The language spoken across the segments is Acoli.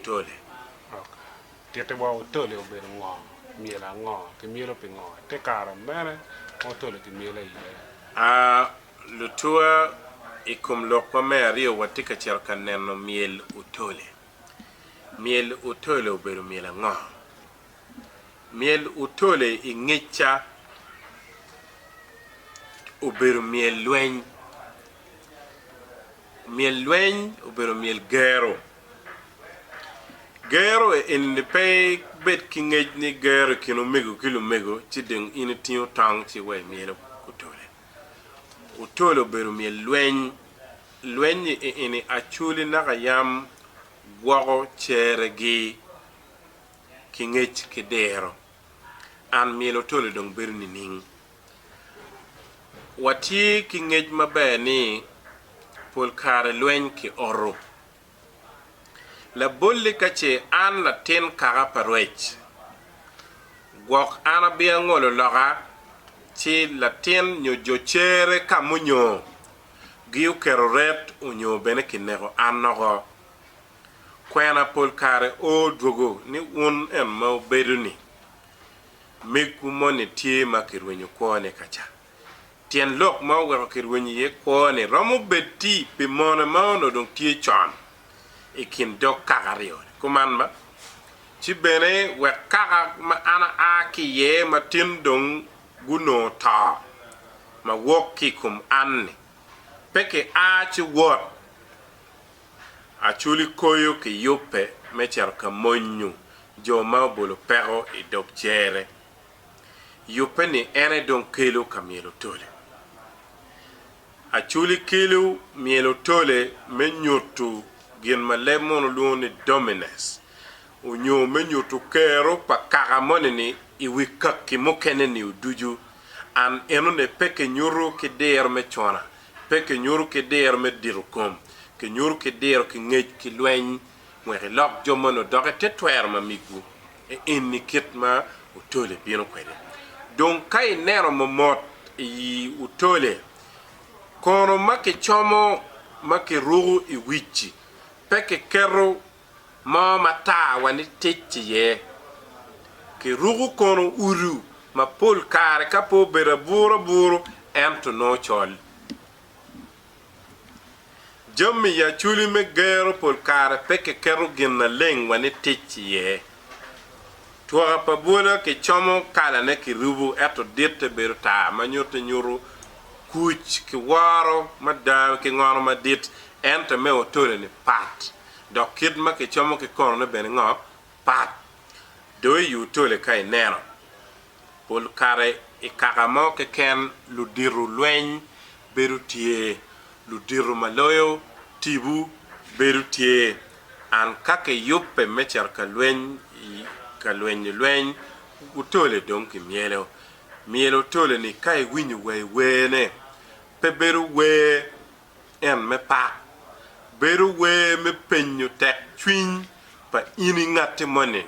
Otole. Ok. Titti wa Otole obedo ngo? Myel ango? Kimyelo pi ngo? Te kare mene ma Otole kimyelo iye? A. Lutua, I kom lok ma me aryo watye ka cito ka neno myel Otole. Myel Otole obedo myel ango? Myel otole i ngecca obedo myel lweny. Myel lweny obedo myel gero. Gero eni-ni pe ibed ki ngec ni gero i kin omego ki lumego ci dong in itingo tong ci iweyo myel otole. Otole obedo myel lweny. Lweny-nyi eni acwali naka yam gwoko ceregi. ki ngec ki diro. An myelo toli dong bedo nining? Watye ki ngec maber ni pol kare lweny kioto. Labolli ka ce an latin kaka pa rwec, gwok an abiya ngolo loka ci latin nyo jo cere ka munyo gi oketo ret onyo bene kineko an oko. Kwena pol kare o dwogo ni wun en ma wubedo ni megwu moni tye ma kirwenyo kwone ka ca. Tyen lok ma oweko kirwenyo iye kwone romo bed ti pi mone ma onongo dong tye con i kin dog kaka aryo ni, Kuman ma, ci bene wek kaka ma an aa ki iye ma tin dong gunongo to ma wok ki i kom an ni, pe ki a ci wot Acholi koyo ki yubbe me cito ka monyo jo ma obolo peko i dog cere. Yubbe ni en aye dong kelo ka myelo tole. Acholi kelo myelo tole me nyutu gin ma leb mono olwongo ni dominance onyo me nyutu kero pa kaka moni ni i wi kaki mukene nio ducu. An enone pe ki nyutu ki diro me cona Pe kinyuto ki diro me dito kom, kinyuto ki diro ki ngec ki lweny, wek ilok jo moni odok i te twero ma migwu. E enni kit ma otole bino kwede. Dong ka ineno momot iyi otole, kono ma kicomo ma kiruko i wic-ci, pe kiketo mo ma tar wa ni tic iye. Ki ruku kono udu ma pol kare ka pe obedo aburu aburu ento nongo col. Jami i aculi me gero pol kare pe ki keto gin na leng wa ni tic iye. Twoka pa bwola ki como kala ne ki rubu ento ditte bedo tar ma nyutte nyutu kuc ki woro mada ki ngono madit ento me otole ni pat. dok kit ma kicomo ki konone bene ngo? Pat. Do iyu toli ka ineno. Pol kare i kaka mo keken ludito lweny bedo tye, ludito ma loyo tibu bedo tye. An ka kiyubbe me cito ka lweny i ka lwenyo lweny, otole dong kimyelo. Myelo otole ni ka iwinyo wa iwene. Pe bedo wer en me pak, bedo wer me penyo tek cwiny pa in i ngatti moni-ni,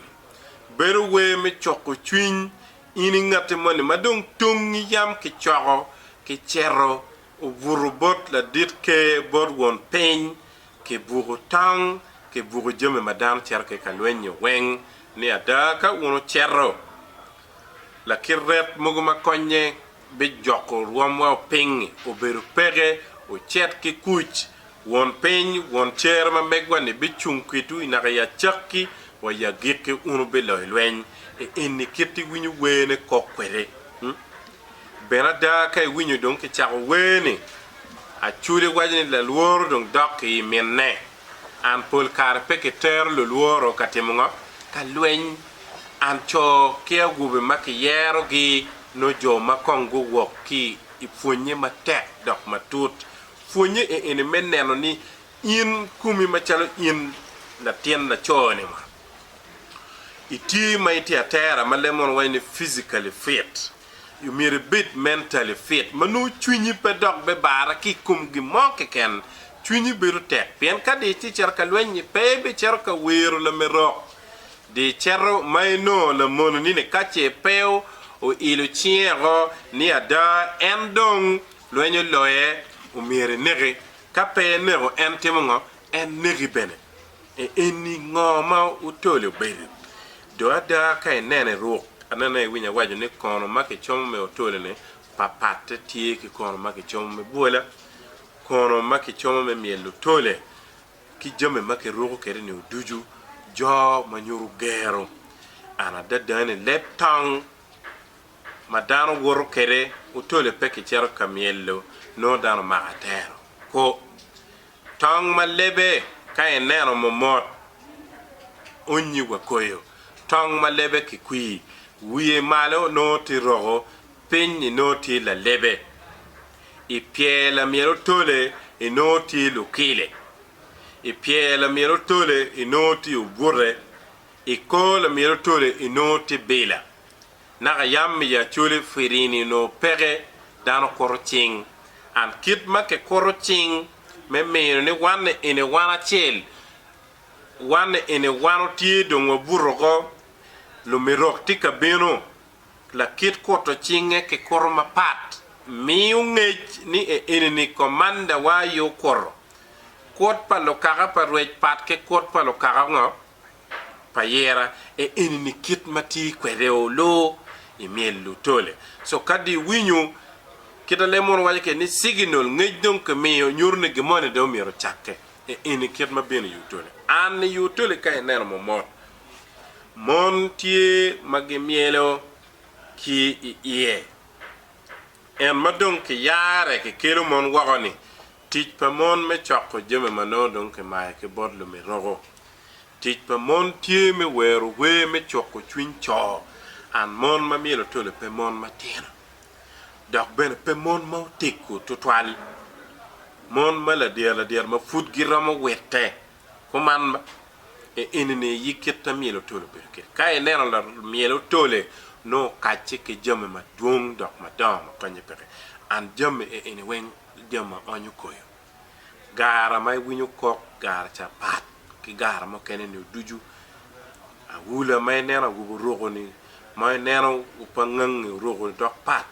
bedo wer me cuko cwiny in i ngatti moni ma dong tongngi yam kicoko kiceto obuto bot ladit ker, bot won piny, kibuko tong, kibuko jami ma dano cito ki ka lweny-nyo weng, ni ada ka wun wuceto Lakit ret mogo ma konye me joko rwomwa opiny obedo peke ocet ki kuc. Won piny, Won cer ma megwa-ni bicung kwitwu i naka i acakki wa i agikki. Wun wubiloyo lweny. E eni kit iwinyo werne kok kwede. Bene ada ka iwinyo dong kicako wer-ni, Aculi waco ni lalworo dong dok i i minne. An pol kare pe kitero lulworo ka timo ngo? Ka lweny. An co ki awobe ma kiyerogi nongo jo ma kong guwok ki i pwonye matek dok matut. Pwonye i eni me neno ni in kumi macalo in latin laco-ni mo, itye ma itye atera ma leb mono waco ni physically fit. Myero ibed mentally fit ma nongo cwinyi pe dok bibara ki i kom gin mo keken. Cwinyi bedo tek pien ka dong itye cito ka lweny-nyi, pe ibicito ka wiro lamerok. Dong icito ma inongo lamononi-ni ka ce pe oilo cinge woko ni ada en dong lweny oloye, omyero ineki. Ka pe eneko, en timo ngo? En neki bene. Eni ngo ma otolo bedi? Do ada ka inene ruk anena iwinyo awaco ni kono ma kicomo me otolo ni papatte tye ki kono ma kicomo me bwola, kono ma kicomo me myelo otole ki jami ma kiruko kede ni oducu jo ma nyuto gero. An adada ni leb tong ma dano woto kede otole pe kicito ka myelo nongo dano mako atero ko. Tong ma lebe ka ineno momot onyi wa koyo. Tong ma lebe ki kwir wiye malo nongo tye roko piny ni nongo tye lalebe. I pyer lamyel otole i nongo tye lukile. I pyer lamyel otole i nongo tye obute. I kor lamyel otole i nongo tye bila. naka yam miyo Acholi firini onongo peke, dano kuto cing. And kit ma kikuto cing me mino ni wanne eni wan acel, wanne eni wan otye dong wabuto oko, lumirok tye ka bino, lakit kuto cinge kikuto mapat, miyo ngec ni e enini Komanda wa aye okuto. Kut pa lukaka pa rwec pat ki kut pa lukaka ngo? pa yera e enini kit ma tye kwede oloo i myel Lutole. So kadi iwinyo kit a lem mono waco kede ni siginol, ngec dong ki miyo nyuto ni gin moni dong myero ocakke e eni kit ma bino i Utole. An i Utole ka ineno momot, mon tye ma gi myelo ki i iye. En ma dong ki yare ki kelo mon woko ni Tic pa mon me coko jami ma nongo dong kimayo ki bot lumirogo. Tic pa mon tye me wero wer me cuko cwiny co and mon ma myelo tole pe mon matino, dok bene pe mon ma oteggo tutwal. Mon ma ladyera ladyera ma pud giromo witte kuman ma i enini aye kit ma myelo tole obedo kwede. Ka ineno lamyelo tole, nongo okacce ki jami madwong dok madongo ma konye peke and jami enini weng. jami ma onyo koyo. Gara ma iwinyo kok gara ca pat ki gara mukene ni ducu. Awula ma ineno awobi oruku ni ma ineno opangangi oruku ni dok pat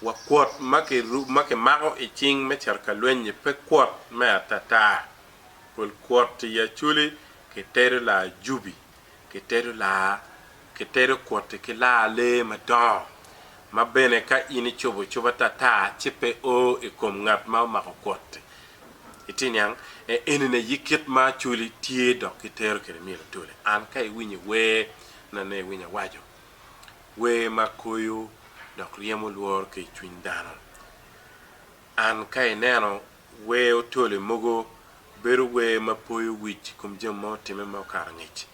wa kwot ma ki mako i cing me cito ka lweny ni pe kwot me atata. Pol kwot i Acholi ki tedo laa Ajubi. kitedo laa, kitedo kwoti ki laa lee madongo, ma bene ka in icobo cobo atata ci pe o i kom ngat ma omako kwoti. Itye niang? E, enini aye kit ma acoli tye dok kitero kwede myel atoli. An ka iwinyo i wer, nonei iwinyo awaco, wer ma koyo dok ryemo lworo ki i cwiny dano. An ka ineno Wer otole mogo bedo wer ma poyo wic i kom jami ma otimme ma okato angec.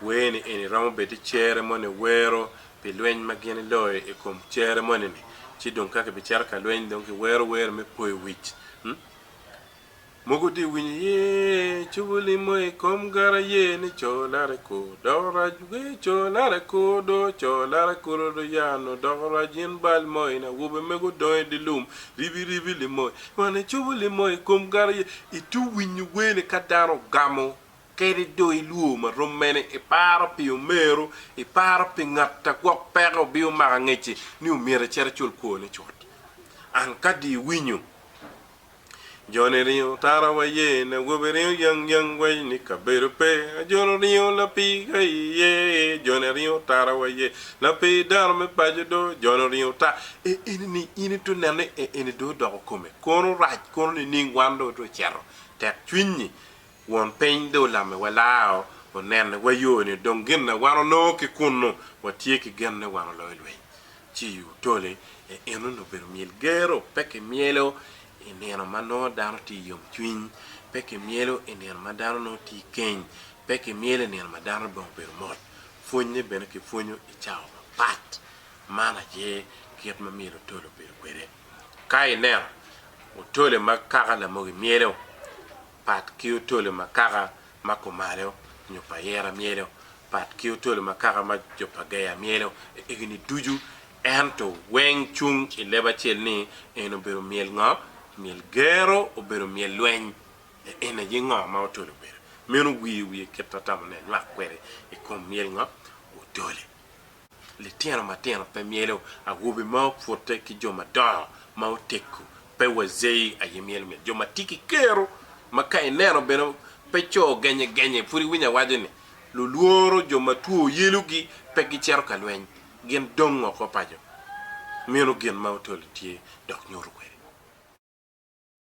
Wer-ni eni romo bedi cere moni wero pi lweny ma gin iloyo i kom cere moni-ni, ci dong ka kibicito ka lweny dong kiwero wer me poyo wic. Mogo dye winyo ye cobo limo i kom gara ye ni co lare ko dok rac we co lare ko do co lare kuro do yano dok rac in bal mo in awobe mego dong i dye lum Ribi ribi limo man icobo limo i kom gari ye itu winyo wene ka dano ogamo kede do ilwor ma rom mene iparo pi omeru iparo pi ngata gwok peke obiyo mako angeci ni omyero icit icul kwone cut an kadi iwinyo Joni ringo tara wa ye, nawobi ringo yang yang wa ni kabedo pe, ajolo ringo lapii ga i ye e, joni ringo tara wa ye, lapii dano me paco do, joni ringo ta e eni ni in i to neno ni e eni do odoko kome, kono rac kono nining wan do to ceto tek cwinyi, won piny do olame wa lao onene wa yo ni dong gin na wan onongo ki kunnu wa tye ki gen ni wan oloyo lweny, ci otole e eno ni obedo myel gero pe ki myelo I nino ma nongo dano tye i yomcwiny, pe kimyelo i nino ma dano nongo tye i keny, pe kimyelo i nino ma dano dong obedo mot. Pwonynye bene kipwonyo i cawa mapat. Man aye kit ma myel otole obedo kwede. Ka ineno otole ma kaka Lamogi myelo, pat ki otolo ma kaka ma kumalo nyo pa ayera myelo, pat ki otolo ma kaka ma jo pa Geya myelo i egini ducu, ento weng cung i leb acel ni, En obedo myel ngo? Myel gero obedo myel lweny. En aye ngo ma otolo obedo? Meno wiye wiye kit ma tamo ni anywak kwede i kom myel ngo? Otole. Litino matino pe myelo awobe ma opute ki jo madongo ma oteggo pe wazei aye myelo myel. Jo ma tye ki kero ma ka ineno bene pe co genye genye pud iwinyo awaco ni lulworo jo ma two yelogi pe gicito ka lweny gin dong oko paco. Meno gin ma Otoli tye dok nyuto kwede.